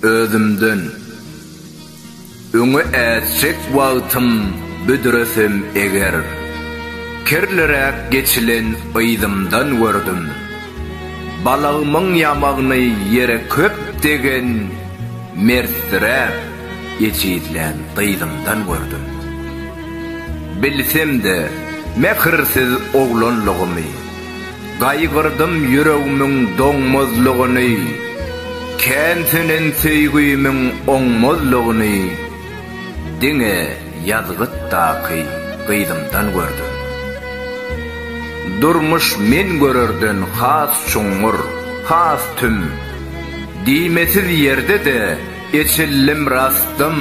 Özümden Öňe ätjek wagtym büdresem eger, Kirliräk geçilen yzymdan gördüm. Balagymyň ýamagyny ýere köp degen, Mertdiräk ejizlän gyzymdan gördüm. Bilsem-de, mähirsiz oglanlygymy. Gaýgyrdym ýüregimiň doňmazlygyny, Kän sönen söýgimiň oňmazlygyny Diňe ýazgytdaky gyzymdan gördüm. Durmuş men görerden has çuňňur, has tüm, Diýmesiz ýerde-de eçildim rastym.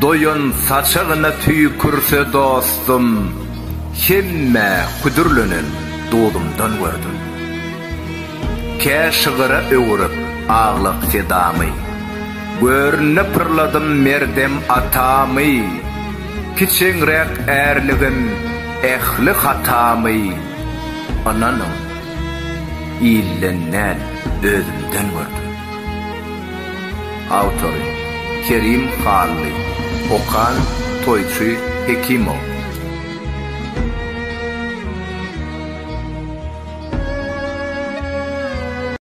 Doýan saçagyna tüýkürse dostum, Hemmä küdürlenen duzumdan gördüm. Kä şygyra öwürip aglak sedamy, Görnüne pyrladym merdem atamy, Kiçeňräk ärligim, ähli hatamy, Ynanyň, ilden däl, özümden gördüm. Awtory, Kerim Hally. Okan, Toýçy Hekimow.